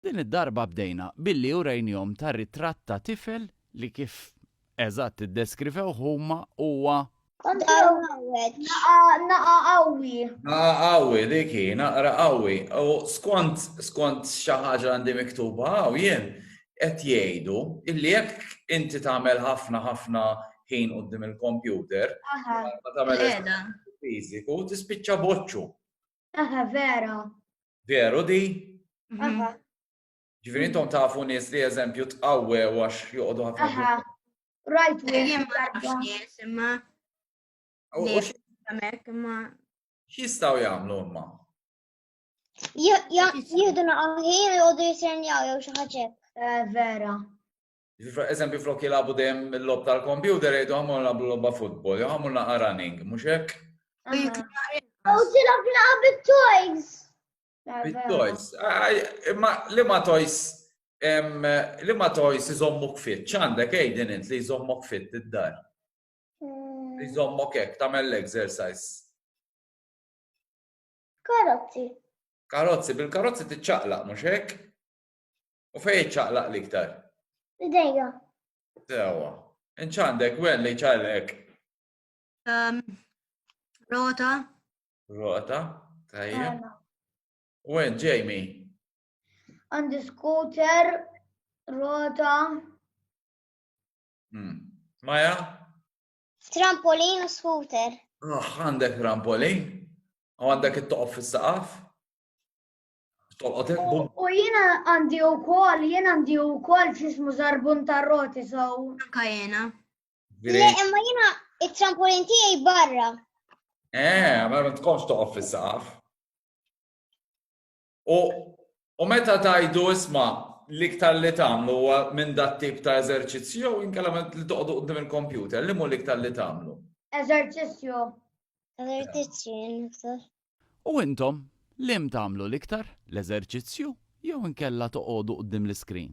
Din id-darba bdejna billi urejnihom ta' ritratt ta' tifel li kif eżatt iddeskrivewh huma huwa. Kontraw ħareġ naqa' qawwi. Naqa' qawwi, dik hi, naqra qawwi. U skont, skont xi ħaġa għandi miktuba hawn jien, qed jgħidu illi jekk inti tagħmel ħafna ħafna ħin quddiem il-kompjuter, mingħajr ma tagħmel eżerċizzju fiżiku, tispiċċa boċċu. Eħe, vera. Veru di? Mhm. Ġifieri intom tafu nies li eżempju tqawwew għax joqogħdu ħafna. Right, jien ma nafx nies imma. X'jistgħu jagħmlu imma? Jieħdu naqaħin joqogħdu jisernjaw jew xi ħaġa. Eh, vera. Eżempju, flok jilabu dejjem il-lob tal-kompjuter jgħidu għamur nagħmlu lobba futbol, jew għamur naqa' running, mhux hekk? U tilab naqa' bit-toys. Bit-toys. Imma li ma toys li ma toys iżommuk fit, ċandek għejdin int li jżommok fit id-dar. Mm. Jżommok hekk tagħmel l-exercise. Karozzi. Karozzi, bil-karozzi tiċċaqlaq mhux hekk? U fejn iċċaqlaq l-iktar? Idejja. Sewa. Inċandek, wen li ċaqlek? Um, rota. Rota, tajja. Wen, Jamie? Għandi scooter, rota. Hmm. Maja? Trampolin u scooter. Ah, għandek trampolin? U għandek it-toqof fis-saqaf? U jena għandi u kol, jena għandi u kol ċismu zarbun tarroti sow. Anka jena. Le, imma jena il-trampolin tijaj barra. Eh, ma ma tkomx toqof fil-saqaf. U meta tajdu isma l-iktar li tamlu minn dat tip ta' eżerċizzju jew inkella li toqdu qdim il-kompjuter, li mu l-iktar li tamlu? Eżerċizzju. Eżerċizzju, U intom, l-hemm tagħmlu l-iktar, l-eżerċizzju jew inkella toqogħdu quddiem l-iskrin?